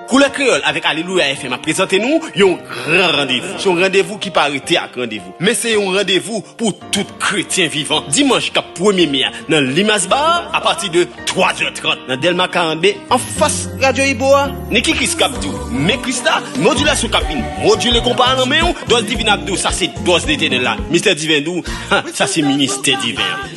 Koulè Kreyòl avèk Alelouya FM ap prezante nou yon gran randevou. Se yon randevou ki pa rete ak randevou, men se yon randevou pou tout kretyen vivan. Dimanch kap premye me a nan Limace Bar a pati de 3 zè 30 nan Dèlma 42 anfas Radyo Ibo a. Niki Chris kap di w men Chris la, Modilasyon kap vin modile konpa a nan men w, Dòz Divin ap di w sa se dòz Letènèl la, Mistè Diven di w sa se ministè diven an.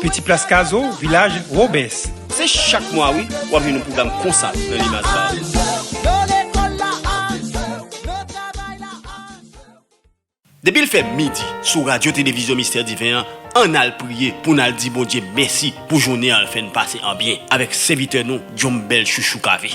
Piti Plas Kazo, Vilaj Robes. Se chak mwa wi wap jwenn yon pwogram konsa nan Limace Bar. Depi l fè midi sou radyo televizyon mistè diven an ann al priye pou n al di Bondye mèsi pou jounen an l fè n pase an byen avèk sèvitè nou Dyombèl Chouchou Cavé.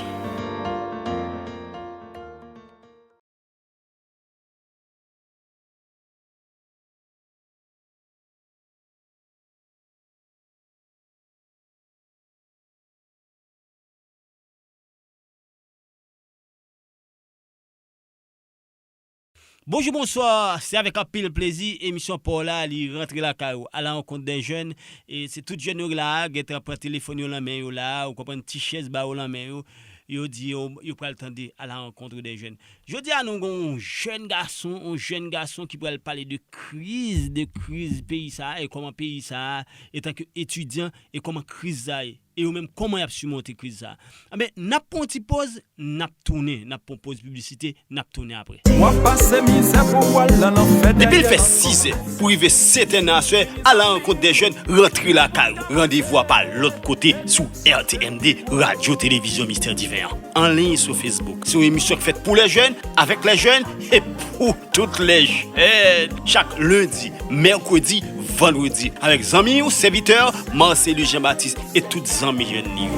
Bonjou bonswa se avèk anpil plezi emisyon paw la li rantre lakay ou ala rankont dè jèn e se tout jèn yo k la a gentan pran telefòn yo lan men yo la a ou konprann ti chèz ba yo lan men yo yo di yo yo pral tande ala rankontre dè jèn Jodi a nou gen yon jèn gason, yon jèn gason ki pral pale de kriz, de kriz peyi sa a e kòman peyi sa a etanke etidyan e kòman kriz sa ye. E yo menm kòman y ap simonte kriz sa a. Anben, n ap pran yon ti poz, n ap tounen. N ap pran yon poz piblisite, n ap tounen apre. W ap pase mizè pou w al nan lanfè Depi l dèyè fè lanfè. sizè pou rive seten nan aswè, al alankontdèjèn, rantre lakay ou. Randevou a pa lòt kote sou. RTMD, Radyo Televizyon Mistè Diven an, anliy sou Facebook. Se yon emisyon ki fèt pou lè jèn, avèk lè jèn, e pou tout lè jèn. Chak lendi, mèkredi, vandredi, avèk zanmi ou sèvitè Marcellus Jean Baptiste e tout zanmi jèn li yo.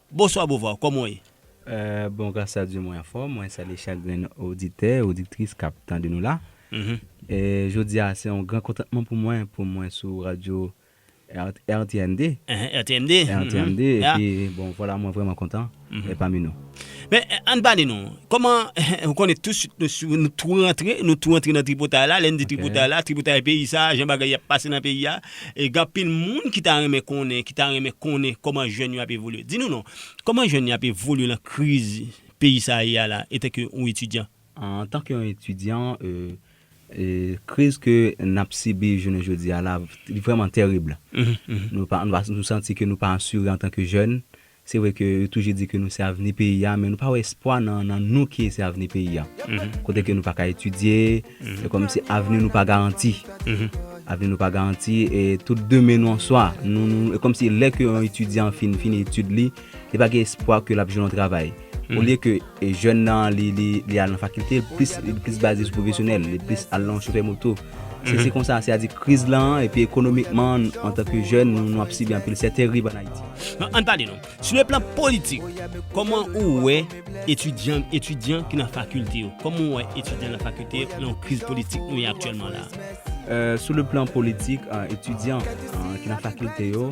Bonswa Beauvoir, kòman w ye? Bon gras a Dye mwen anfòm, mwen salye chak grenn oditè, odiktris k ap tande nou la. Jodi a se yon gran kontantman pou mwen pou mwen sou radyo rtmd, rtmd epi bon vwala mwen vrèman kontan èt pami nou. Men an n pale nou, kòman ou konnen tousuit nou tou rantre, nou tou antre nan tripotay la, lè n di tripotay la, tripotay peyi sa a, jan bagay y ap pase nan peyi a. E gen anpil moun ki ta renmen konnen, ki ta renmen konnen kòman jèn yo ap evolye. Di nou non, kòman jèn yo ap evolye nan kriz peyi sa a ye a la, etanke yon etidyan? Antanke yon etidyan, kriz ke n ap sibi jounen jodi a la, li vrèman terib. Nou santi ke nou pa asire antanke jèn, Se vre ke yo toujou di ke nou se avni peyi a men nou pa wè espwa nan nou ki se avni peyi a. Kote ke nou pa ka etidye, se kòm si avni nou pa garanti. Avni nou pa garanti e tout demen nou an swa. E kòm si lè ke yon etidyan fin fini etid li, li pa gen espwa ke l ap jwenn yon travay. Olye ke. E jèn nan li li al nan fakilte li plis li plis baze sou pwofesyonèl li plis al nan chofè moto se se konsa se a di kriz lan epi ekonomikman antanke jèn nou ap sibi anpil sè terib an ayiti. Nan ann pale non sou le plan politik kòman ou wè etidyan etidyan ki nan fakilte yo kòman ou wè etidyan nan fakilte yo nan kriz politik nou ye aktyèlman la a. Sou le plan politik etidyan ki nan fakilte yo.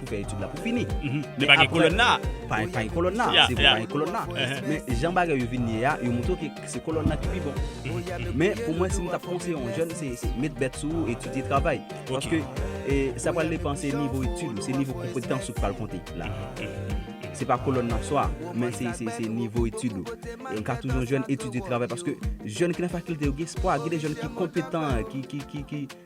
Pou fè etid la pou fini. Men pa gen kolòn la. Pa gen kolòn la. Se vre pa gen kolòn la. Men jan bagay yo vin ye a, yo montre ke se kolòn la ki pi bon. Men pou mwen si m t ap konseye yon jèn se met bèt sou ou, etidye, travay. Paske sa pral depan se nivo etid ou, se nivo konpetans ou k pral konte la. Se pa kolòn nan swa, men se nivo etid ou. Yon ka toujou jèn, etidye, travay paske jèn ki nan fakilte yo gen espwa, gen de jèn ki konpetan, ki.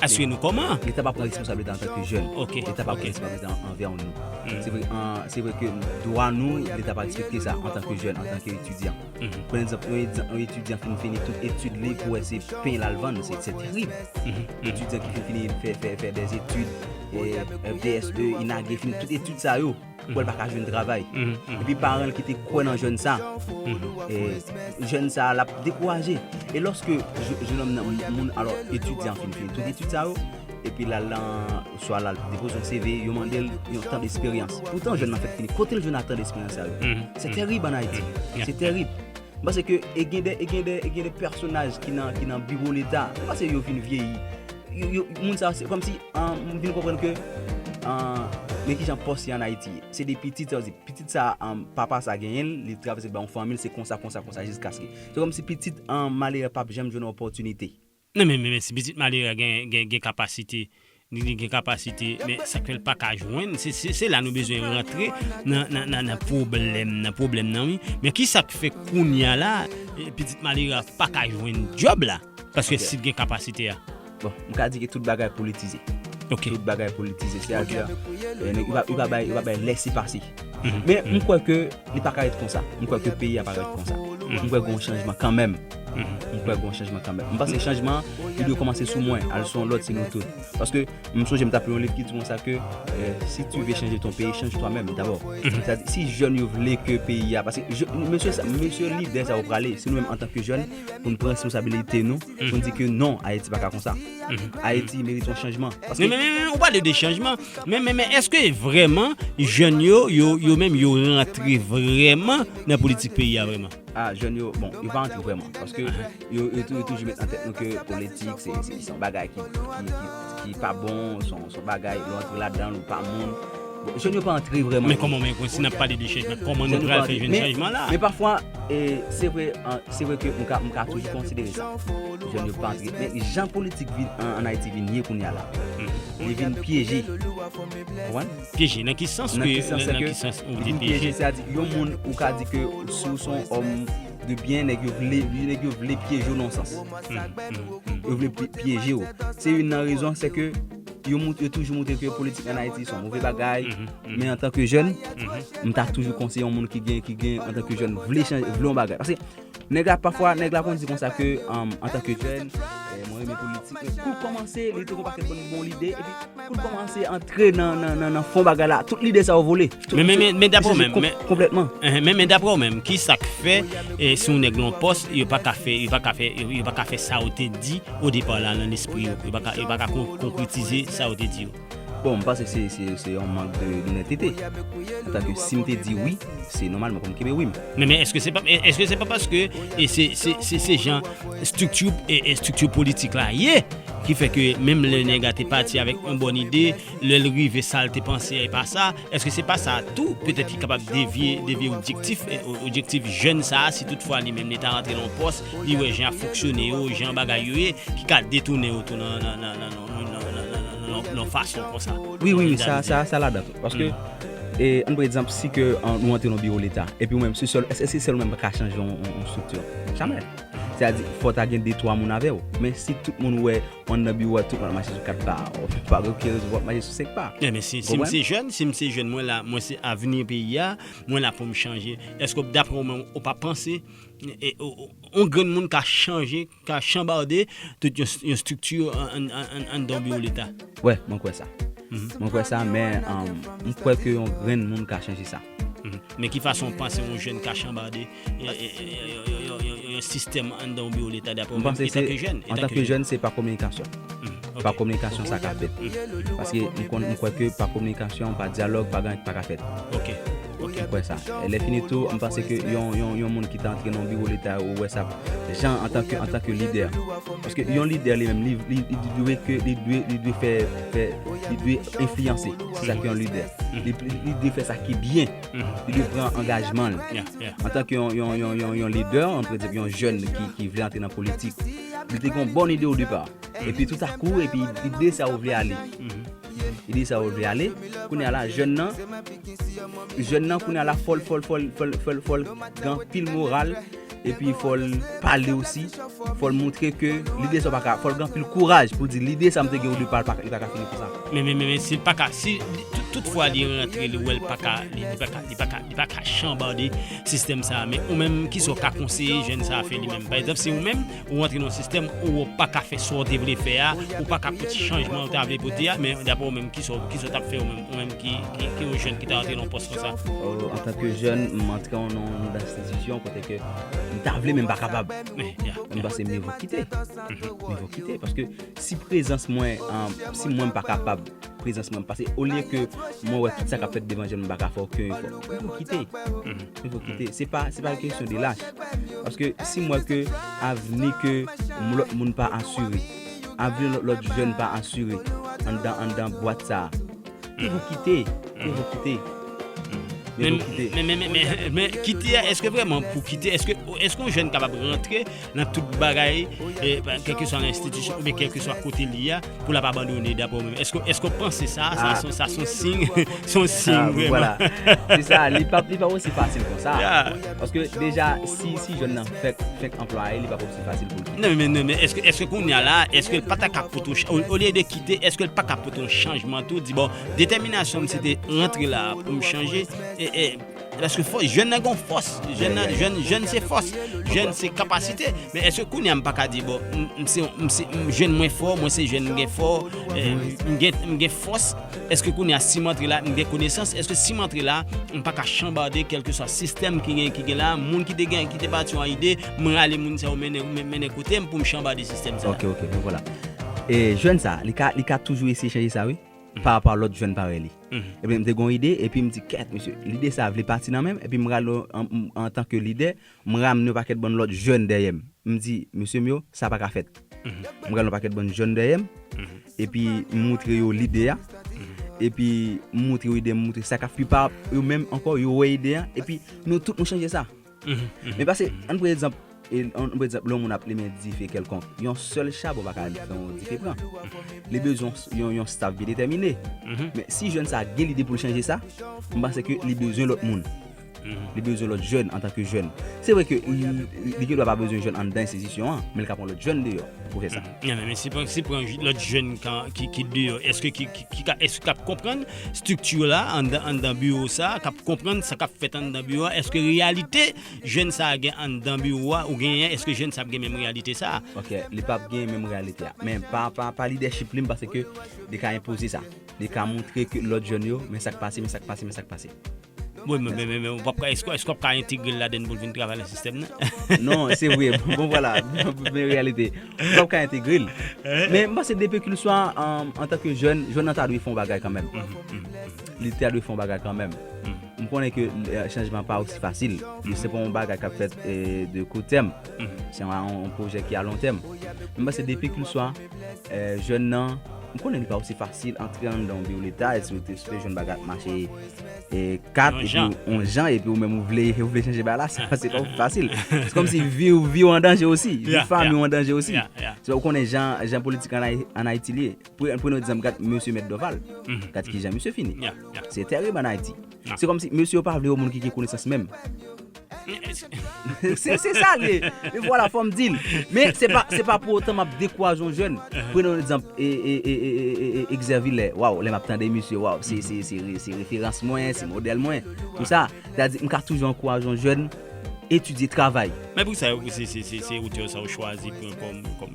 Asire nou kòman? Leta pa pran responsabilite an tanke jèn. Leta pa pran responsabilite an anvè an nou. Se vre, se vre ke dwa nou, leta pa respekte sa an tanke jèn, an tanke etidyan. Pran egzanp, yon etidyan fin fini tout etid li pou wè se pen l al vann, se terib. Etidyan ki fin fini fè dèzetid, BSE, INAGE, fin tout etid sa yo. pou l pa ka jwenn travay. Epi paran l ki te kwè nan jèn sa, jèn sa l ap dekouraje. E lòske jenòm nan, moun alò etidyan fin fini tout etid sa yo, epi l al nan, swa l al depoze yon CV, yo mande l yon tan desperyans. Poutan jèn nan fèk fini, kote l jwenn ak tan desperyans sa yo? Se terib ann Ayiti, se terib. M panse ke e gen de e gen de e gen de pèsonaj ki nan ki nan biwo leta m panse yo vin vyeyi yo yo moun sa se kòmsi an m vin konprann ke an men kijan pòs ye an Ayiti se de pitit sa vle di pitit sa an papa sa genyen l li travèse ba yon fanmi l se konsa konsa konsa jiskaske se kòmsi pitit an malere p ap janm jwenn opòtinite. Nan men men si pitit malere a gen gen gen kapasite li gen kapasite men sak fèl paka jwenn se se se la nou bezwen rantre nan nan nan nan pwoblèm nan pwoblèm nan wi men kisak fè kounya la pitit malere a paka jwenn djòb la paske sil gen kapasite a. Bon m ka di ke tout bagay politize. Ok. Tout bagay politize se a di a yo pa bay yo pa bay lèse pase. Men m kwè ke li pa ka ret konsa. M kwè ke peyi a pa ka ret konsa. M kwè gen yon chanjman kanmenm. M kwè gen yon chanjman kanmenm. M panse chanjman an, li dwe kòmanse sou mwen, al sou yon lòt, se nou tout. Paske, m sonje m t ap li yon liv ki di konsa ke, si tu veux changer ton pays, change toi même d'abord. Si jèn yo vle ke peyi a, paske mesye sa, mesye lidè sa yo prale, se nou menm antanke jèn pou n pran responsabilite nou, pou n di ke non, Ayiti pa ka konsa. Ayiti merite yon chanjman. Men men men, ou pale de chanjman. Men men men eske vreman jèn yo yo yo menm yo rantre vreman nan politik peyi a vreman? A jèn yo bon yo pa rantre vreman paske yo yo yo toujou met nan tèt nou ke politik se se son bagay ki ki ki pa bon son son bagay lè w antre ladan l ou pa moun bon jèn yo pa rantre vreman. Men kòman men si n ap pale de chanjman kòman nou pral fè jwenn chanjman la? Men pafwa E se vre, se vre ke m ka, m ka toujou konsidere sa. Jèn yo pa antre. Men jan politik vin an, an Ayiti vin ye kounye a la. Li vin pyeje. Konprann? Pyeje nan ki sans ke, nan ki sans ou di pyeje? Sa di, yon moun ou ka di ke si w son òm de byen, nèg yo vle, nèg yo vle pyeje w nan yon sans. Yo vle pyeje w. Se youn nan rezon se ke. Yo mout, yo toujou moutre ke politik an Ayiti son move bagay, men an tan ke jèn, m ta toujou konseye yon moun ki gen, ki gen an tan ke jèn vle chanje, vle yon bagay. Paske nèg la pafwa, nèg la konn di konsa ke an tan ke jèn, mwen renmen politik, men kou l kòmanse, li te gen yon pakèt bon lide, epi kou l kòmanse antre nan fon bagay la, tout lide sa yo vole. Men men men men dapre ou menm men konplètman men men men dapre ou menm ki sak fè e sou nèg lon pòs yo pa ka fè yo pa ka fè yo pa ka fè sa ou te di o depa la nan lespri yo yo pa ka yo pa ka konkretize sa ou te di yo Bon, m panse se se se yon mank de donètete. Antan ke si m te di wi, se nòmalman pou m kenbe wi m. Men men èske se pa èske se pa paske e se se se se jan estrikti e estrikti politik la ye ki fè ke menm lè nèg a te pati avèk yon bòn ide Lè l rive sa l te panse a epa sa, èske se pa sa tou petèt ki kapab devye devye odjektif odjektif jèn sa a si tout fwa li menm li ta rantre nan yon pòs li wè jan y ap fonksyone yo jan bagay yo ye ki ka detounen yo tou nan nan nan nan nan yon fason konsa? Wi wi wi sa sa sa ladan tou paske e an pran egzanp si ke nou rantre nan yon biwo leta epi ou menm se sèl èske se sèl ou menm ki ka chanje yon yon strikti jamè sètadi fò ta gen de twa moun avè w men si tout moun wè Ou andan biwo a tout wap mache sou 4 pa. Ou pa gen oken rezon pou wap mache sou 5 pa. Enben si si m se jèn, si m se jèn mwen la, mwen se avni peyi a, mwen la pou m chanje. Eske w daprè ou menm ou pa panse on grenn moun ka chanje, ka chanbarde tout yon strikti anndan yon biwo leta? Wè, mwen kwè sa. Mwen kwè sa men m kwè ke yon grenn moun ka chanje sa. Men ki fason ou panse yon jèn ka chanbarde? yon sistèm anndan yon biwo leta dapre ou menm etan ke jèn? Antan ke jèn se pa kominikasyon. Pa kominikasyon sa ka fèt. Paske m konn m kwè ke pa kominikasyon, pa dyalòg, pa gan pa ka fèt. Ok. Ok. M kwè sa. Lè fini tou, m panse ke yon yon yon moun ki ta antre nan yon biwo leta ou wè sa jan antan ke antan ke lidè. Paske yon lidè li menm li li li dwe ke li dwe li dwe fè fè li dwe enfliyanse. Se sa ki yon lidè. Li dwe fè sa ki byen. Li dwe pran angajman l. Antanke yon lidè, yon jèn ki vle antre nan politik, li te gen yon bon ide odepa. Epi toutakou, epi li deside sa yo vle ale. Li deside sa yo vle ale, kounye a la, jèn nan, jèn nan kounye a la fò l, fò l, fò l, fò l, fò l, fò l gen anpil moral. Epi fòl pale osi, fòl moutre ke lide sa ou pa ka, fòl gen anpil kouraj poul di lide sa mte gen ou de pal li pa ka fini konsa. Men men men sil paka si tout fwa li rantre li wèl paka li paka li paka li paka chanbade sistèm sa men ou menm kisa ou ka konseye jèn sa fè li menm pa egzanp si ou menm ou rantre nan sistèm ou ou paka fè sa ou te vle fè a ou paka pote chanjman ou ta vle pote a men daprè ou menm kisa ou kisa ou tap fè ou menm ou menm ki ki yon jèn ki ta rantre nan yon pòs konsa. Antanke jèn m antre nan yon. Pozisyon kote ke m ta vle men m pa kapab. M panse mye vo kite. Mye vo kite. Paske si prezans mwen, si mwen m pa kapab, prezans mwen pase. Olye ke mwen wè tout sa k ap fèt devan je m, m pa ka fè oken efò. Mye vo kite. Mye vo kite. Se pa yon kesyon de lach. Paske si m wè ke avni ke yon lòt moun pa asire, avni yon lòt jèn pa asire anndan bwat sa a. Ke nou kite, ke nou kite. Men, men, men, men, men, kite a, eske vreman pou kite, eske, eske yon jèn kapab rantre nan tout bagay, e, kèlke swa nan enstitisyon, oube kèlke swa kote li a, pou l ap abandone, dapre ou menm? Eske, eske ou panse sa, sa son, sa son siy, son siy vreman? Se sa, li pa, li pa osi fasil kon sa. Paske deja, si, si jèn nan fèk, fèk anplwaye, li pa p. fasil pou l kite. Non, men, men, eske, eske kounya la, eske l pa ta kap pote, olye de kite, eske l pa kap pote yon chanjman tou, di bon, detèminasyon m se te rantre la pou m chanje, e, e, paske fò, jèn nan gon fòs, jèn nan, jèn, jèn se fòs, jèn se kapasite, men eske kounya m pa ka di bon, m, m se, m se, m jèn mwen fò, mwen se jèn m gen fò, e, m gen, m gen fòs, eske kounya si m antre la, m gen konesans, eske si m antre la, m pa ka chanbarde kèlkeswa sistèm ki gen, ki gen la, moun ki te gen, ki te bati yon ide. M rale moun sa yo mennen kote m pou m chanbade sistèm sa. Ok ok, bon vwala. E jèn sa, li ka li ka toujou eseye chanje sa wi, pa rapò a lòt jèn parèy li. Ebyen m te gen yon ide epi m di kèt mesye, lide sa vle pati nan men m epi m rale antan ke lidè, m ramne yon pakèt bann lòt jèn dèyè m. M di mesye m yo sa pa ka fèt. M rale yon pakèt bann jèn dèyè m epi m moutre yo lide a epi m moutre yo ide m moutre sa ka pi pa yo menm ankò yo wè ide a epi nou tout nou chanje sa. Men pase, ann pran egzanp, ann pran egzanp lè yon moun ap limen dife kèlkonk, yon sèl chabon pa ka fè yon dife pran. Li bezwen yon yon staf byen detèmine. Men si jèn sa gen lide pou l chanje sa, m panse ke li bezwen lòt moun. Li bezwen lòt jèn antan ke jèn. Se vre ke li gendwa pa bezwen jèn anndan enstitisyon an, men li ka pran lòt jèn deyò pou fè sa. Men si pran lòt jèn ki deyò, èske ki ap konprann estrikti la anndan biwo sa, k ap konprann sa k ap fèt anndan biwo a, èske reyalite jèn sa gen anndan biwo a ou genyen, èske jèn sa ap gen menm reyalite sa? Ok, li pap gen menm reyalite a. Men pa lidèchip li m panse ke li ka enpoze sa. Li ka montre ke lòt jèn yo men sa k pase, men sa k pase, men sa k pase. Mwen mwen mwen mwen ou pap ka esko esko ap ka entegre l laden pou l vin travay nan sistèm nan. non, se vre. Bon voilà, men reyalite. Ou pap ka entegre l. Men m panse depi ke l swa antan ke jèn, jèn nan ta dwe fè yon bagay kanmenm. Li ta dwe fè yon bagay kanmenm. M konnen ke chanjman pa osi fasil. Se pa yon bagay kap fèt de kou tèm. Se yon pwojè ki a lon tèm. Men m panse depi ke l swa Jèn nan, m konnen li pa osi fasil antre anndan yon biwo leta e si ou te espere jwenn bagay ap mache kat epi yon jan epi ou menm ou vle chanje bagay la se pa osi fasil. Se kòmsi vi ou an danje osi, vi fanmi ou an danje osi. Se paske ou konnen jan politik an Ayiti li ye. Pwen nou egzanp gad Mesye Mèt Dòval. Gad ki jan misye fini. Se tèrib an Ayiti. Se kòm si mesye yo pa vle yo moun ki gen konesans menm. Se sa l ye. E vwala fò m di l. Men se pa se pa pou otan m ap dekouraje yon jèn. Prenn yon egzanp Exerville. Waw lè m ap tande misye waw se se se referans mwen, se modèl mwen. Pou sa. Se ta di m ka toujou ankouraje yon jèn etidye, travay. Men pou sa yo pou se se se se otè sa ou chwazi pran kòm kòm.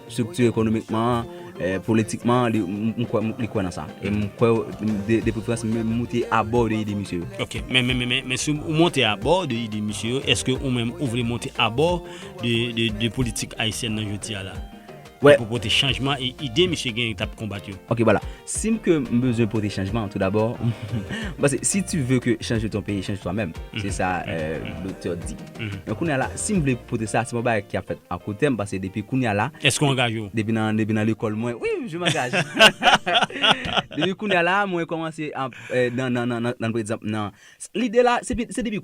Strikti ekonomikman an, politikman an, m kwè li kwè nan sa. E m kwè de preferans m menm moute abò de ide misye yo. Ok, men men men men si ou monte abò de ide misye yo, eske ou menm ou vle monte abò de politik ayisyèn nan jodi a la? Ki pou pote chanjman e ide misye genyen t ap konbat yo? Ok bala, si m ke m bezwen pote chanjman tou dabò, m panse si tu veux que change ton pays, change toi-même, se sa Doktè di. Men kounye a la, si m vle pote sa, se pa yon bagay ki ap fèt a koutèm, paske depi kounye a la, Èske w angaje w? depi nan, depi nan lekòl mwen, wi, je m'engage! Depi kounye a la, mwen kòmanse ap, nan, nan, nan, nan, pa egzanp, nan, lide la, se pi, se depi.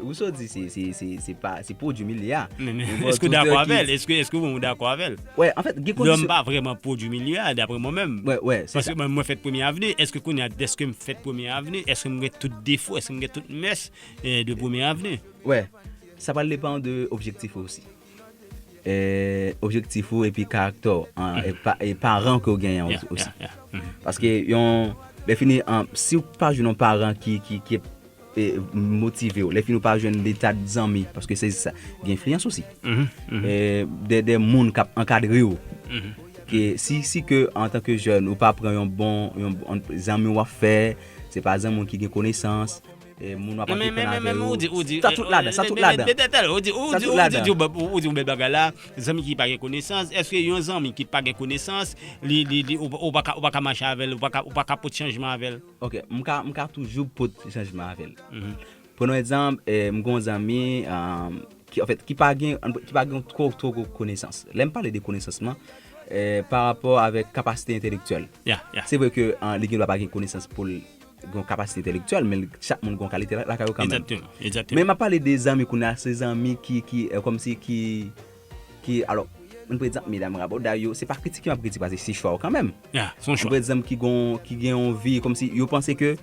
Rousseau di se pa se pwodwi milye a. Men eske ou dakò avèl? Eske eske ou dakò avèl? Wè, an fèt, gen kondisyon. Lòm pa vrèman pwodwi milye a, dapre mwen menm. Wè, wè, se sa. Paske mwen mwen fèt premye avni, eske kounye a dèske m fèt premye avni, eske m gen tout defo, eske m gen tout mès de premye avni? Wè, sa pral depan de objektif ou osi. objektif ou epi karaktè w e paran ke w genyen osi paske yon lè fini an si w pa jwenn yon paran ki motive w lè fini w pa jwenn de ta de zanmi paske se sa gen enfliyans osi de moun k ap ankadre w ke si ke an tan ke jèn ou pa pran yon bon zanmi w ap fè se pa zanmi w ki gen konesans moun wap antreprann avè yo sa tout ladan sa tout ladan sa tout ladan ou di yon bèl bagay la zanmi ki pa gen konesans èske yon zanmi ki pa gen konesans li ou paka mache avèl ou paka pot chanjman avèl ok m ka toujou pot chanjman avèl pran yon egzanp m gen yon zanmi anfèt ki pa gen twò gwo konesans lèm pale de konesans lan parapò avèk kapasite entelektyèl se vre ke li gen dwa pa gen konesans poul Gon kapasite entèlektyèl men chak moun gon kalite lakay yo kanmenm. Exactement, exactement. Men map pale de zanmi kounya se zanmi ki ki kòmsi ki ki alò ann pran egzanp medam raboday yo se pa kritike map kritike paske se chwa yo kanmenm. Ya, son chwa. Ann pran egzanp ki gon ki gen yon vi kòmsi yo panse ke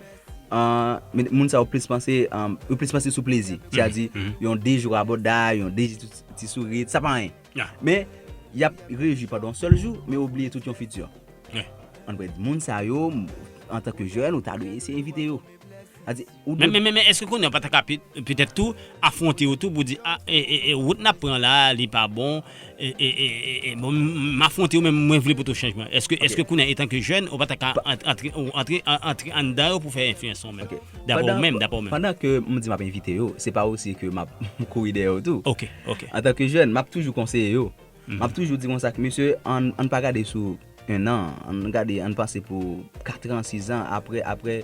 ann moun sa yo plis panse yo plis panse sou plezi. Se a di yon 2 jou raboday, yon 2 jou ti sourit sa pa anyen. Men, y ap rejwi pandan yon sèl jou, men yo bliye tout yon fiti. An prèt, moun sa yo, antanke jèn, ou ta dwe eseye evite yo. Sa di, ou dwe. Men, èske kounye a ou pa ta ka petèt tou afwonte yo tou pou w di, A, wout n ap pran la a, li pa bon, e, bon, m afwonte yo men mwen vle pote chanjman. Èske kounye a, etanke jèn, ou pa ta ka antre anndan yo pou fè enfliyans ou menm? Dapre ou menm, dapre ou menm. Pandan ke m di m ap evite yo, se pa osi ke m ap kouri dèyè yo tou. Antanke jèn, m ap toujou konseye yo. M ap toujou di konsa ke mesye ann pa gade sou ennan, ann gade, ann panse pou katran, sizan, apre, apre,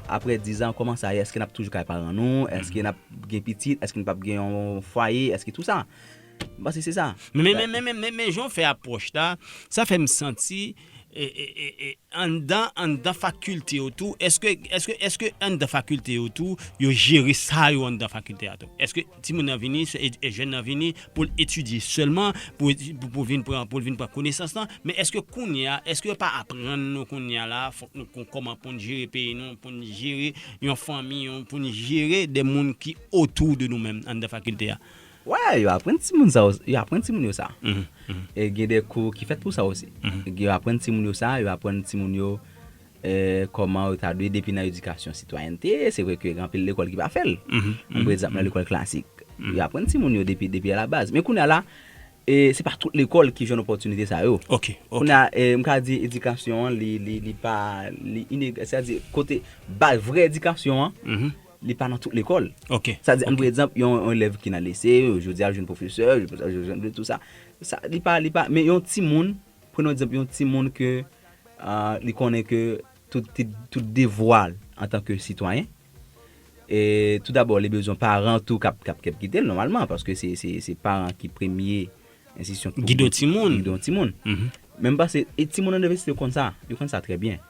apre dizan kòman sa ye, èske n ap toujou kay paran nou, èske n ap gen pitit, èske n p ap gen yon fwaye, èske tou sa. M panse se sa. Men, men, men, men, men, men jan w fè apwòch la, sa fè m santi. Anndan anndan fakilte yo tou eske eske eske anndan fakilte yo tou yo jere sa yo anndan fakilte a tou eske timoun nan vini se e jèn nan vini poul etidye sèlman pou eti pou pou vin pran poul vin pran konesans lan men eske kounya eske yo pa aprann nou kounya la fòk nou kon kòman poun jere peyi nou poun jere yon fanmi yon poun jere de moun ki otou de nou menm anndan fakilte a. Wè yo aprann timoun sa osi, yo aprann timoun yo sa. E gen de kou ki fèt pou sa osi. Yo aprann timoun yo sa, yo aprann timoun yo kòman yo ta dwe depi nan edikasyon sitwayènte, se vre ke gen anpil lekòl ki pa fè l. An pou egzanp nan lekòl klasik. Yo aprann timoun yo depi depi alabaz. Men kounye a la, se pa tout lekòl ki jwenn opòtinite sa yo. Ok, ok. Kounye a, m ka di edikasyon an li pa, li ineg, sètadi kote bay vrè edikasyon an, Li pa nan tout lekòl. Ok. Sa di an pou egzanp yon elèv ki nan lise, jodi a li jwenn pwofesè, tout sa. Sa li pa, li pa, men yon timoun, pran yon egzanp yon timoun ke li konnen ke tout ti, tout devwa l antan ke sitwayen, e tou dabò li bezwen paran tou kap, kap kite l nòmalman paske se, se, se paran ki premye enstisyon ki pou gide yon timoun. Gide yon timoun. Mwen panse e timoun nan inivèsite yo konn sa, yo konn sa trè byen.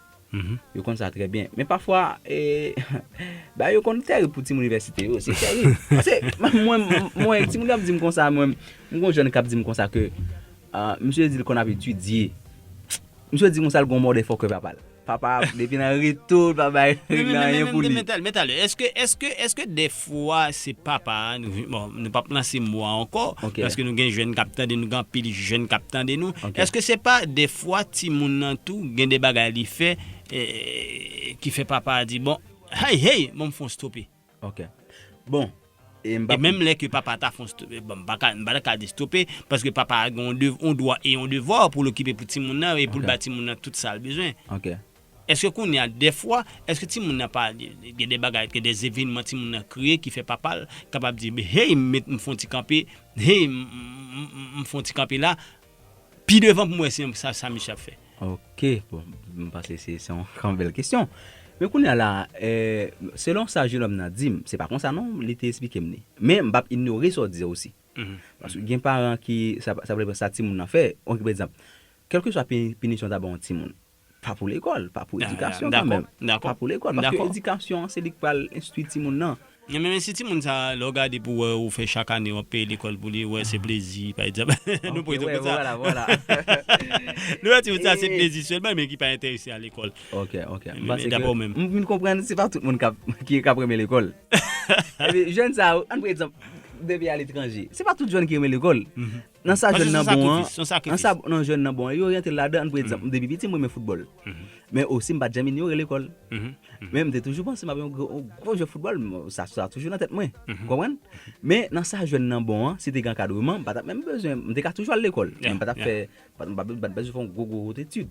Yo konn sa trè byen. Men pafwa, bagay yo konn tèrib pou timoun inivèsite yo. Se tèrib. Pase, mwen, mwen, timoun yo ap di m konsa, mwen, m gen yon jèn k ap di m konsa ke, misye di l konn ap etidye. Misye di konsa l gen yon mòde fòkè papa l. Papa a, depi nan reto, l pa bay reg nan anyen pou li. Mèt ale, mèt ale, èske, èske, èske dè. Fro a se papa a nou bon nou pap lanse mo a ankò paske nou gen jèn kap tande nou gen anpil jèn kap tande nou eske se pa defwa timoun nan tou gen de bagay li fè ki fè papa a di bon hey hey bon m fon stope ok bon e menm lè ke papa ta fon stope bon m pa ka m pa ta ka di stope paske papa a gen yon dwa e yon devwa pou l okipe pou timoun nan e pou l ba timoun nan tout sa l bezwen ok. Eske kounye a dèfwa, eske timoun nan pa gen de bagay, gen de zevenman timoun nan kreye ki fè papa l kapab di, hey m met m fon ti kanpe, hey m fon ti kanpe la, pi devan pou m wè si sa sa misye ap fè? Ok, bon, m panse se yon gran bèl kesyon. Men kounye a la, selon sa jenòm nan di m, se pa konsa non li te esplike m li. Men m pa p inyore sa w di a osi. Paske gen paran ki, sa pa depan sa timoun nan fè, on ki pa egzanp, kèlkeswa pinisyon ta ban yon timoun, Pa pou lekòl, pa pou edikasyon kan menm. Pa pou lekòl, paske edikasyon an se li k pral enstwi timoun nan. Nan menm enstiti moun sa, lè w gade pou wè ou fè chak ane w ap peye lekòl pou li, wè se plezi pa egzanp. Nou pran egzanp konsa. Nou wè ti moun sa se plezi sèlman men ki pa enterese a lekòl. Ok, ok. M panse ke. Dapre ou menm. M vin konprann se pa tout moun ki ap renmen lekòl. Jèn sa yo, an pran egzanp depi a letranje. Se pa tout jèn ki renmen lekòl. Nan sa jèn nan bon an, nan sa nan jèn nan bon an, e yo oryante'l ladan, an pran egzanp, depi piti m renmen foutbòl, men osi m pat janm inyore lekòl, men m te toujou panse map yon gwo jwè foutbòl, sa sa toujou nan tèt mwen, ou konprann? Men nan sa jèn nan bon an, si te gen ankadreman, m patap menm bezwen, m te ka toujou al lekòl, men m patap fè, m pat bezwen fè yon gwo gwo wot etid.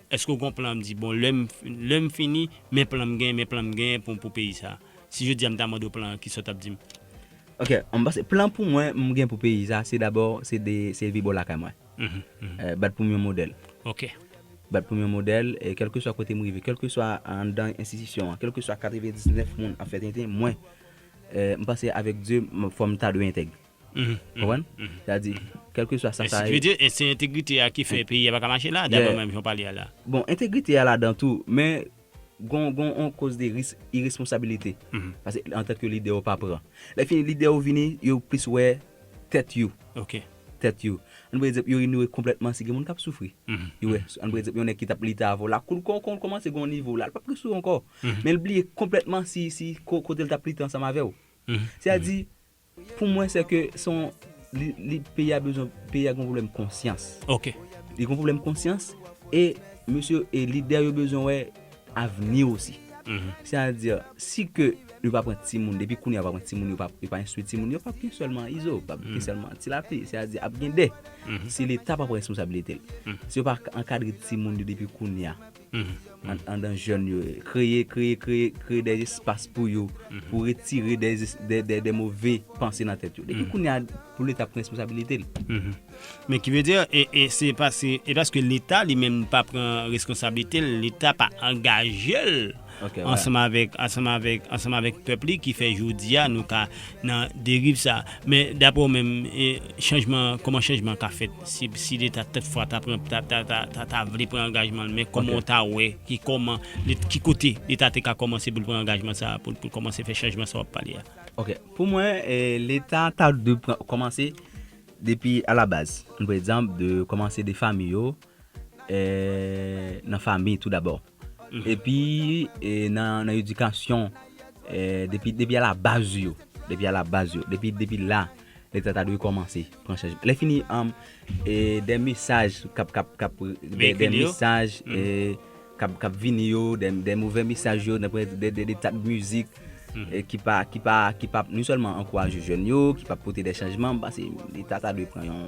Eske ou konplan m di bon lèm lèm fini men plan m gen men plan m gen pou pou peyi sa si jodi a m ta mande w plan an kisa w tap di m. Ok m panse plan pou mwen m gen pou peyi sa se dabò se de se vi bò lakay mwen bat pou m yon modèl ok bat pou m yon modèl e kèlkeswa kote m rive kèlkeswa anndan enstitisyon an kèlkeswa 99 moun ap fè tenten mwen m panse avèk Dye fò m ta dwe entèg. Konprann? Sa di, kèlkeswa sa sa ye. E se entegrite a ki fè peyi a pa ka mache la, daprè mwen, jan w pale a la. Bon, entegrite a ladan tou, men gon yon koz de risk iresponsabilite. Pase antan ke lidè yo pa pran. Lè fini lidè yo vini, yo plis wè tèt yo. Ok. Tèt yo. An nou pran egzanp, yo inyore konplètman si gen moun k ap soufri. Yo wè, an nou pran egzanp yon nèg ki t ap li ta avè w la kou l kon kon l kòmanse gen yon nivo la, l p ap resouye w ankò. Men l bliye konplètman si kote l t ap lite ansanm avè w. Se a di, Pou mwen se ke son li peyi a bezwen peyi a gen yon pwoblèm konsyans. Ok. Li gen yon pwoblèm konsyans e mesye e lidè yo bezwen wè avni osi. Se a di si ke yo pa pran timoun depi kounye a yo pa pran timoun yo pa yo pa enstwi timoun yo pap gen sèlman izo pap gen sèlman tilapi se a di ap gen 2 si leta pa pran responsabilite l si yo pa ankadre timoun yo depi kounye a. andan jèn yo, kreye kreye kreye kreye dè espas pou yo pou retire dè dè dè move panse nan tèt yo depi kounya pou leta pran responsabilite l. Men ki vle di e e se pa se e paske leta li menm pa pran reskonsablite l leta pa angaje l ansanm avèk ansanm avèk ansanm avèk pèp li ki fè jodi a nou ka nan deriv sa men daprè w menm e chanjman kòman chanjman ka fèt. Si si leta tèt fwa ta pran ta ta ta ta vle pran angajman l men kòman w ta wè ki kòman let ki kote leta te ka kòmanse pou l pran angajman sa a pou l pou l kòmanse fè chanjman sa w ap pale a. Ok pou mwen e leta ta dwe pran kòmanse depi a la baz m pre egzanp de kòmanse de fami yo e nan fami tou dabò. Epi nan edikasyon, depi a la baz yo, depi a la baz yo, depi la, leta ta dwe kòmanse pran chaj. Lè fini, dè mesaj kap, kap, kap, dè mesaj kap vini yo, dè movè mesaj yo, dè tat mizik ki pa, ki pa, ki pa, nou sèlman ankouraje jèn yo, ki pa pote dè chanjman, leta ta dwe pran yon.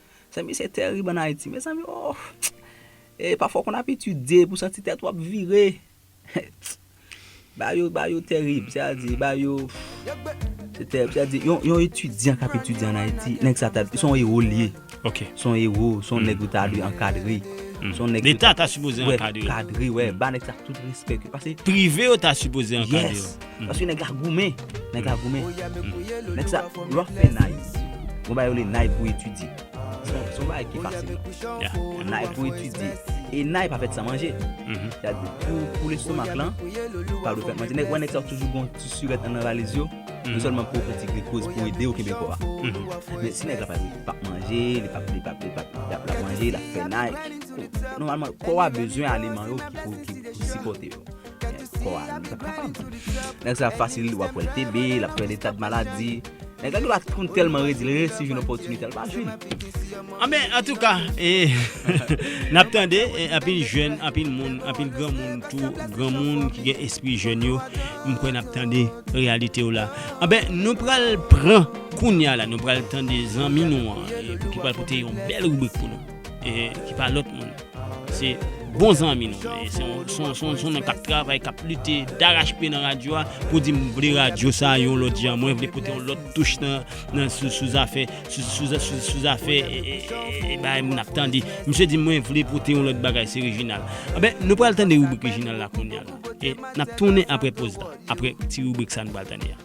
Mezanmi se terib an Ayiti mezanmi ooh ee pafwa w konn ap etidye epi w santi tèt w ap vire bagay yo bagay yo terib se a di bagay yo se terib se a di yon etidyan k ap etidye an Ayiti nèg sa ta se yon ewo l ye se yon ewo se yon nèg yo ta dwe ankadre se yon nèg leta ta sipoze ankadre wè ba nèg sa tout respè paske prive yo ta sipoze ankadre yo. Paske nèg la goumen, nèg la goumen. Nèg sa rough fè nay. Mwen ba yo le nay pou etidye. Son bagay ki fasil non. Nay pou etidye. E nay pa fèt san manje. Sètadi pou lestomak lan, pa dwe fèt manje. Nèg wè nèg sa yo toujou gon ti surèt andan valiz yo. Non sèlman pou fè ti glikoz pou ede yo kenbe kò a. Men si nèg la pap manje, li pap li pap li pap lap manje, lap fè nay. Nòmalman kò a bezwen aliman yo ki pou sipòte yo. Nèg sa fasil wap wèl TB, lap pran etat de maladie. Nèg la dwa konn tèlman redi l resi jwenn opòtinite l pa jwenn. Anben ah, antouka e nap tande anpil jèn, anpil moun, anpil granmoun tou, granmoun ki gen espri jèn yo, m kwè nap tande reyalite yo la. Anben ah nou pral pran kounya la, nou pral tande zanmi nou an ki pral pote yon bèl ribrik pou nou. ki pa lòt moun, se bon zanmi nou. Se yon nèg k ap travay, k ap lite darachpye nan radyo a pou di m vle radyo sa a yon lòt jan, mwen vle pote yon lòt touch nan sou zafè sou zafè bagay moun ap tande. Misye di m mwen vle pote yon lòt bagay, se Reginald. Anben, nou pral tande ribrik Reginald la kounye a la. E n ap tounen apre poz la, apre ti ribrik sa a nou pral tande a.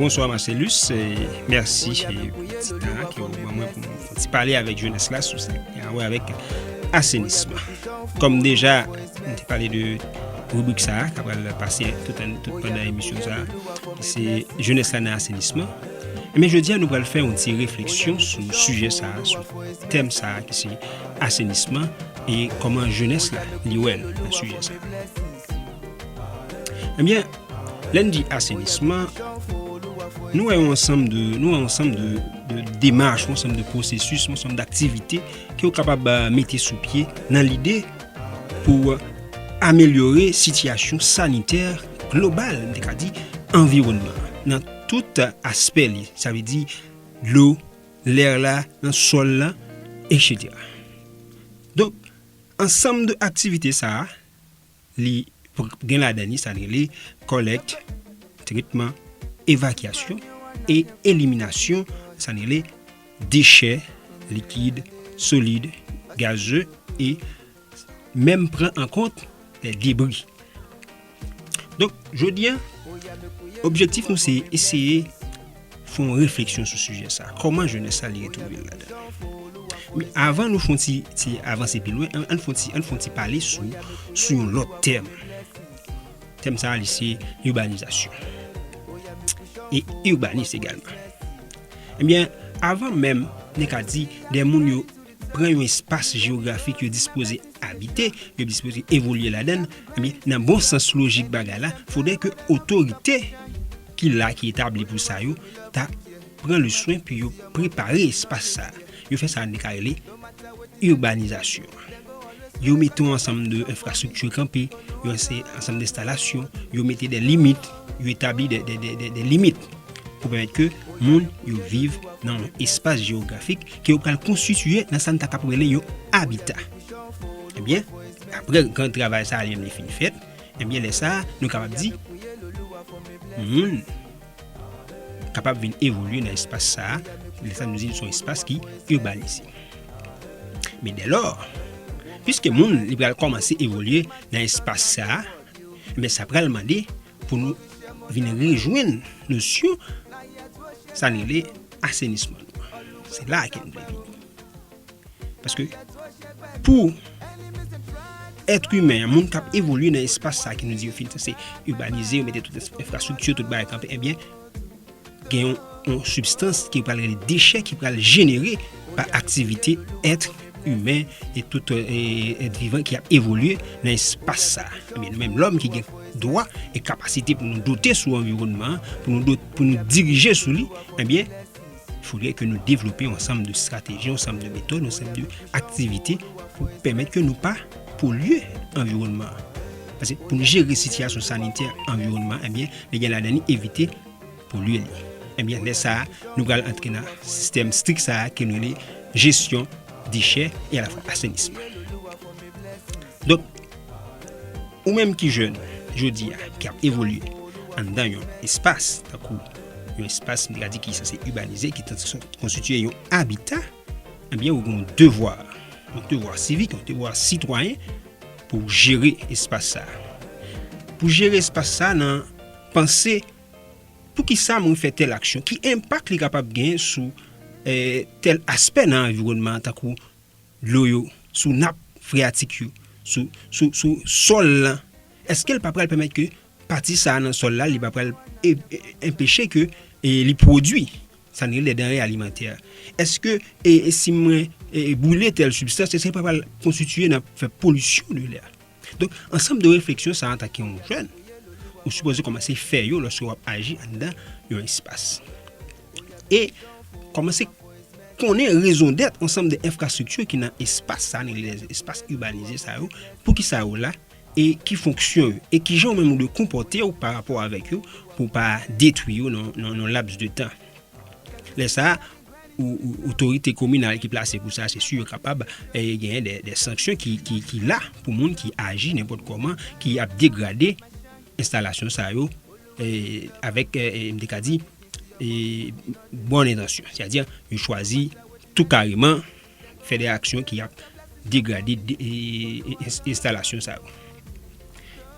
Bonsoir Marcellus, merci pou ti tan ke ou ban mwen pou mwen fè ti pale avèk jeunesse la sou sa ki an wè avèk assainissement. Kòm deja mwen te pale de rubrik sa a, kapral pase tout an tout pandan emisyon sa a, se jeunesse la nan assainissement. Men eh jodi a nou pral fè yon ti refleksyon sou sujè sa a, sou tèm sa a ki se assainissement e kòman jeunesse la li wèl nan sujè sa a. Eh Lè n di asenisman, nou wè yon ansanm de, nou wè yon ansanm de, de demach, yon ansanm de pwosesis, yon ansanm d'aktivite ke ou kapab ba mete sou pye nan lide pou amelyore sitiyasyon sanitè global, m te ka di, anviwònman an, nan tout aspè li. Sa vle di, dlo, lèr la, nan sòl la, eksetera. Donk, ansanm de aktivite sa a, Li gen ladan li sa n rele kòlèt, tretman, evakyasyon e eliminasyon sa n rele dechè likid, solid, gaze e menm pran an kont lè debri. Donk jodi a objektif nou se eseye Fè yon refleksyon sou sijè sa a. Kòman jenès sa li retwouve l ladan li? Men avan nou fè yon ti ti avanse pi lwen, an n fè yon ti an n fè yon ti pale sou sou yon lòt tèm. Tèm sa a li se ibanizasyon e ibanis egalman. Ebyen avan menm nou ka di de moun yo pran yon espas jewografik yo dispoze abite, yo dispoze evolye ladan l, ebyen, nan bon sans lojik bagay la, fodè ke otorite ki la, ki etabli pou sa yo, ta pran le swen pou yo prepare espas sa a. Yo fè sa nou ka rele urbanizasyon. Yo mete yon ansanm de enfrastrikti kanpe, yon ansanm de enstalasyon, yo mete de limit, yo etabli de limit pou pèmèt ke moun yo viv nan yon espas jewografik. ke yo pral konstitiye nan sa n ta kap rele yon abita. Ebyen, apre gran travay sa a li menm li fin fèt, ebyen lè sa a nou kapab di moun kapab vin evolye nan espas sa a, lè sa a nou di l son espas ki irbanize. Men dè lò, piske moun li pral kòmanse evolye nan espas sa a, ebyen sa pral mande. pou nou vin rejwenn nosyon sa n rele asenisman nou an. Se la ke m vle vini. Paske pou etre imen, moun k ap evolye nan espas sa ke nou di yo fin se urbanize, yo mete tout enfrastrikti, tout bagay kanpe, ebyen, eh Gen yon sibstans ki pral rele dechè ki pral jenere pa aktivite èt imen e tout èt vivan ki ap evolye nan espas sa. Ebyen nou menm lòm ki gen dwa e kapasite pou nou dote sou anviwònman, pou nou dirije sou li, ebyen foudre ke nou devlope yon ansanm de strateji, yon ansanm de metòd, yon ansanm de aktivite pou pèmèt ke nou pa polye anviwònman. Pase pou nou jere sitiyasyon sanitè anviwònman, ebyen li gen ladan li evite. pou lwil li. Ebyen lè sa nou pral antre nan sistèm strik sa ke nou rele jesyon dechè e alafwa asenisman. Donk ou menm ki jèn jodi a ki ap evolye anndan yon espas tankou yon espas m ta ka di ki sanse ibanize ki sanse konstitye yon abita ebyen ou gen yon devwa, yon devwa sivik, yon devwa sitwayen pou jere espas sa. Pou jere espas sa nan. Panse, Poukisa mwen fè tèl aksyon? Ki enpak li kapab gen sou tèl aspè nan anviwònman an tankou dlo yo, sou nap freyatik yo, sou sòl lan? Eske l pa pral pèmèt ke pati sa a nan sòl la li pa pral enpeche ke li pwodui sa nou rele danre alimantè? Eske si mwen boule tèl sibstans eske l pa pral konstitiye nan fè polisyon de lè a? Donk, ansanm de refleksyon sa antanke yon jèn, ou sipoze kòmanse fè yo lòske w ap aji anndan yon espas. E kòmanse konnen rezondèt ansanm de enfrastrikti ki nan espas sa, nou rele espas ibanize sa yo, poukisa yo la, e ki fonksyon yo, e kijan ou menm ou dwe konpòte w parapò avèk yo pou w pa detwi yo nan yon laps de tan. Lè sa a. Otorite kominal ki plase pou sa, se si yo kapab genyen de sanksyon ki la pou moun ki aji nenpòt kòman, ki ap degrade enstalasyon sa yo avèk, m te ka di, bon entansyon. Sè a di, yo chwazi tou kareman. fè de aksyon ki ap degrade enstalasyon sa yo.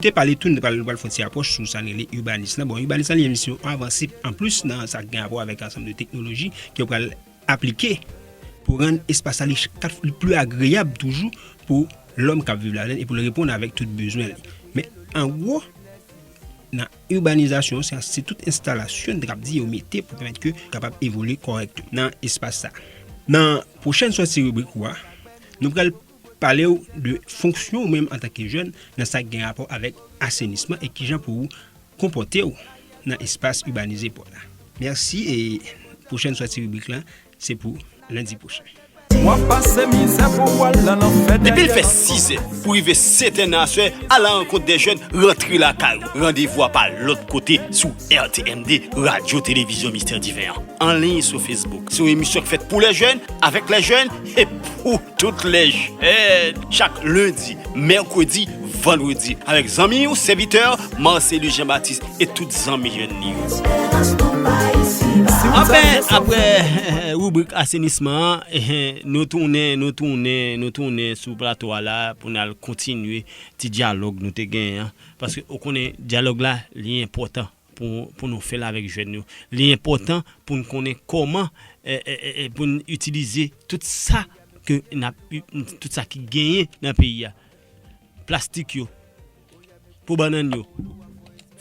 Te pale tou, nou pral fon ti apwòch sou sa rele urbanis lan. Bon, urbanis lan li menm si yon avanse an plis nan sa gen apwò avèk ansanm de teknoloji ki yo pral aplike pou rann espas sa li pli agreyab toujou pou lòm kap viv ladan li e pou l reponn avèk tout bezwen li. Men, an gwo, nan Urbanizasyon sa se tout enstalasyon nou ta kab di yo mete pou pèmèt ke kapab evolye kòrèk nan espas sa. Nan pwochèn sòti ribrik ou a, nou pral pale ou de fonksyon ou menm antan ke jèn nan sa k gen rapò avèk asenisman e kijan pou ou konpòte ou nan espas urbanize pou w la. Mèsi e pwochèn sòti ribrik la Se pou lendi pwochen. Depi l fè sizè pou rive setè nan aswè, alarankont dè jèn rantre lakay ou. Randevou a pa lòt kote sou RTMD, Radyo Televizyon Mistè Diven an. Anliy sou Facebook, se yon emisyon k fèt pou lè jèn, avèk lè jèn, e pou Tout lè chak lendi, mèkredi, vandredi avèk zanmi ou sèvitè Marcellus Jean Baptiste e tout zanmi jèn li yo. Anfen, aprè ribrik asenisman an, nou tounen, nou tounen, nou tounen sou plato a la pou n al kontinye ti dyalòg nou te genyen an paske ou konnen dyalòg la li enpòtan. pou nou fè l avèk jèn yo. Li enpòtan pou n konnen kòman pou n itilize tout sa ke n ap, tout sa ki genyen nan peyi a. Plastik yo, po bannann yo,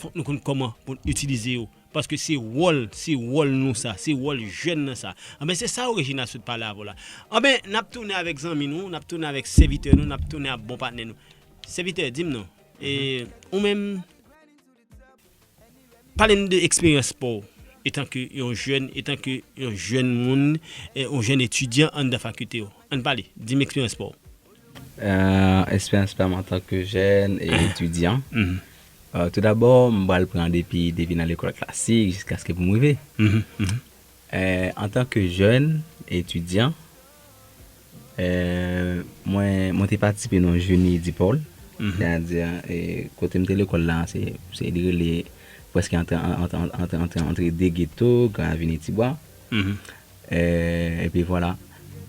fòk nou konn kòman pou n itilize yo. Paske se wòl, se wòl nou sa, se wòl jèn nan sa. Anben se sa Regina sot pale avè w la. Anben n ap tounen avèk zanmi nou, n ap tounen avèk sèvitè nou, n ap tounen ak bon patnè nou. Sèvitè, di m non, e ou menm? Pale n de eksperyans pa w etan ke yon jèn, etan ke yon jèn moun, yon jèn etidyan anndan fakilte w. Ann pale, di m eksperyans pa w. Eksperyans pa m antan ke jèn etidyan, tou dabò m pral pran depi nan lekòl klasik jiskaske pou m rive. Antanke jèn etidyan, mwen te patisipe nan Jeunie Dipol, sètadi kote m te lekòl la, se li rele prèske antre de geto, Gran Aveni, Tibwa. Epi vwala,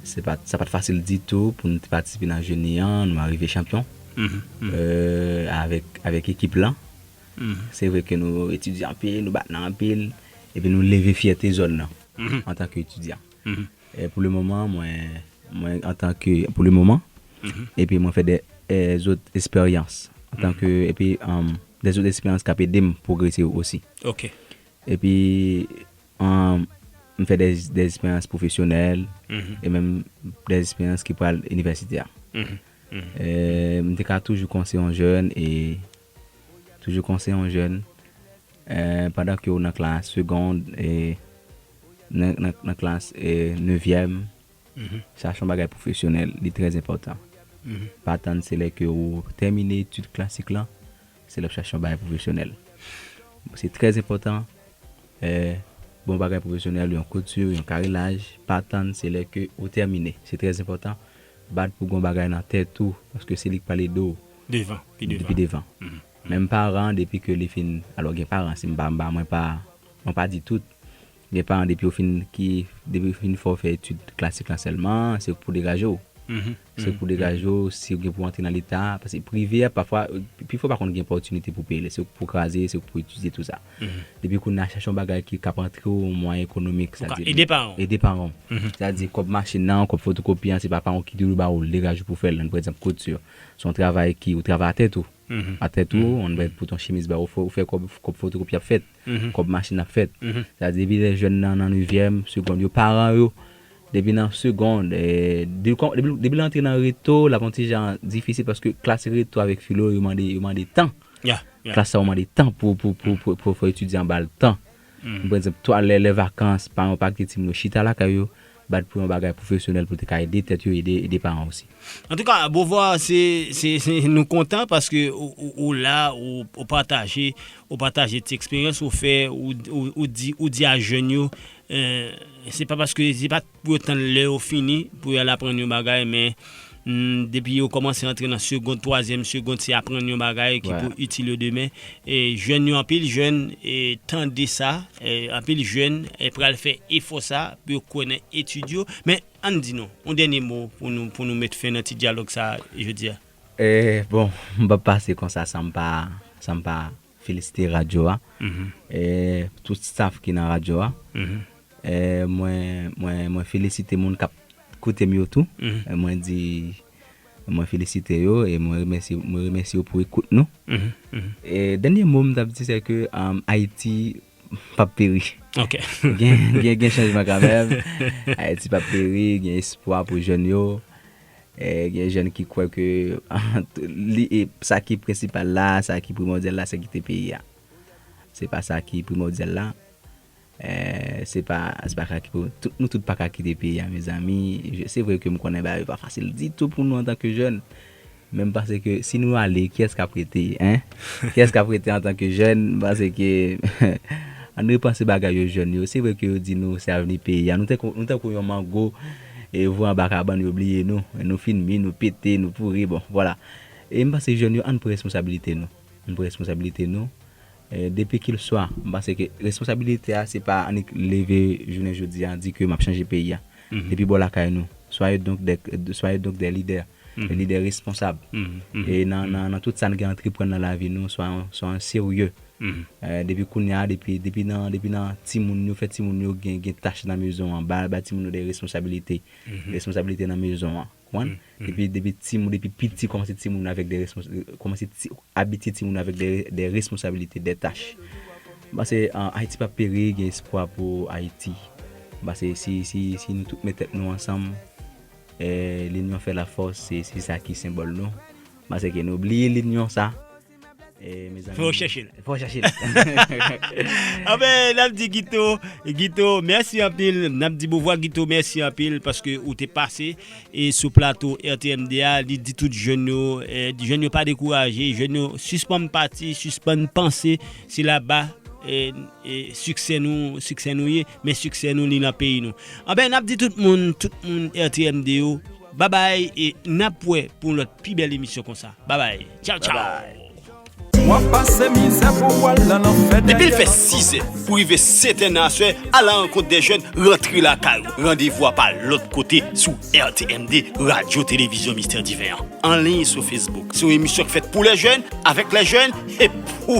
sa pa t fasil ditou pou nou te patisipe nan Jeunie an, nou arive chanpyon avèk ekip lan. Se vre ke nou etidye anpil, nou bat nan anpil, epi nou leve fyète zòn nan antan ke etidyan. Pou le moman, mwen antan ke, pou le moman, epi mwen fè de zot esperyans antan ke, epi de zot esperyans kap ede m pwogrese osi. Epi m fè de esperyans pwofesyonèl, e menm de esperyans ki pral inivèsite a. M te ka toujou konse yon jèn e. Toujou konseye yon jèn pandan ke ou nan klas segond e nan klas nevyèm chache yon bagay pwofesyonèl li trè enpòtan pa tann se lè ke ou tèmine etid klasik lan se lè ou chache yon bagay pwofesyonèl se trè enpòtan yon bagay pwofesyonèl yon kouti yon karilaj pa tann se lè ke ou tèmine se trè enpòtan bat pou gon bagay nan tèt ou paske se li k pral ede w. devan pi devan. Pi devan. Menm paran depi ke li fin alò gen paran si m pa m pa mwen pa mwen pa di tout gen paran depi yo fin ki depi yo fin fè w fè etid klasik lan sèlman se pou degaje w se pou degaje w si w gen pou antre nan leta paske prive a pafwa pi fò w pa konn gen pòtinite pou peye l se pou kraze se pou etidye tou sa depi kounye a chache yon bagay ki k ap antre w yon mwayen ekonomik sa di ede paran w ede paran w sa di kòb machin nan kòb fotokopi an se pa paran w ki dwe ba w l degaje w pou w fè l nan pa ekzanp kouti yo. Se yon travay ki ou travay a tèt ou. A tèt ou, on bay pou ton chemiz bay ou fè ou fè kòb, kòb fotokopi ap fèt, kòb machin ap fèt. Sa di depi lè jèn nan nan nevyèm, segond yo, paran yo depi nan segond, depi l antre nan reto l ap yon ti jan difisil paske klas reto avèk filo yo mande yo mande tan. Klas sa yo mande tan pou pou pou pou fò etidyan ba l tan. Pou egzanp, twa lè lè vakans, paran yo pa kite timoun yo chita lakay yo, bat pou yon bagay pwofesyonèl pou te ka ede tèt yo, ede paran yo osi. Antouka Beauvoir se nou kontan paske ou la ou pataje ou pataje ti eksperyans ou fè ou di a jèn yo se pa paske se pa pou yo tann lè yo fini pou yo al aprann yon bagay men depi yo kòmanse antre nan segond, twazyèm segond se aprann yon bagay ki pou itil yo demen e jèn yo anpil jèn tande sa anpil jèn pral fè efò sa pou yo kwè nan etid yo men ann di nou yon dènye mo pou nou met fen nan ti dyalòg sa jodi a. Bon m p ap pase konsa san m pa. felisite radyo a, tout staff ki nan radyo a, mwen felisite moun kap koute m yo tou, mwen di mwen felisite yo e mwen remèsye yo pou ekout nou. Dènye mo m tap di se ke Ayiti pap peri. Gen chanjman kanmèm, Ayiti pap peri, gen espwa pou jèn yo. Gen jèn ki kwè ke li e sa ki prensipal la, sa ki primòdyal la se kite peyi a. Se pa sa ki primòdyal la. Se pa sa ki primòdyal la. Nou tout pa ka kite peyi a mezanmi. Se vre ke m konnen bagay yo pa fasil ditou pou nou antanke jèn. Men m panse ke si nou ale, kiyès k ap rete? Kiyès k ap rete antanke jèn? M panse ke ann repanse bagay yo jèn yo. Se vre ke yo di nou se avni peyi a. Nou tankou yon mango. E vwa anba kabann yo bliye nou. Nou fin mi, nou pete, nou pouri, bon, vwala. E m panse jèn yo ann pran responsabilite nou. Ann pran responsabilite nou. Depikilswa, m panse ke responsabilite a se pa annik leve jounen jodi a di ke m ap chanje peyi a. Depi bò lakay nou. Soyez donc des, soyez donc des leaders. lidè responsab nan tout sa n gen antreprann nan lavi nou, swayon serye depi kounye a, depi nan timoun yo, fè timoun yo gen tach nan mezon an, bay timoun yo de responsabilite, responsabilite nan mezon an, konprann, depi timoun, depi piti kòmanse timoun avèk de responsabilite, kòmanse abitye timoun avèk de responsabilite, de tach. M panse Ayiti p ap peri, gen espwa pou Ayiti. M panse si nou tout met tèt nou ansanm. Linyon fè la fòs se se sa ki senbòl nou pase ke nou bliye linyon sa mezanmi. Fò chèche l. Fò chèche l. Anfen n ap di Guito Guito mèsi anpil n ap di Beauvoir Guito mèsi anpil paske ou te pase sou plato RTMD a li di tout jèn yo jèn yo pa dekouraje jèn yo sispann pati sispann panse se laba siksè nou siksè nou ye. Men siksè nou li nan peyi nou. Anben nap di tout moun, tout moun RTMD yo, babay e nap wè pou yon lòt pi bèl emisyon konsa. Babay. Tchaw tchaw. Depi l fè sizè pou rive setè nan aswè alankont dè jèn rantre lakay ou randevou a pa lòt kote sou RTMD radyo televizyon mistè diven an anliy sou Facebook se yon emisyon k fèt pou lè jèn avèk lè jèn e pou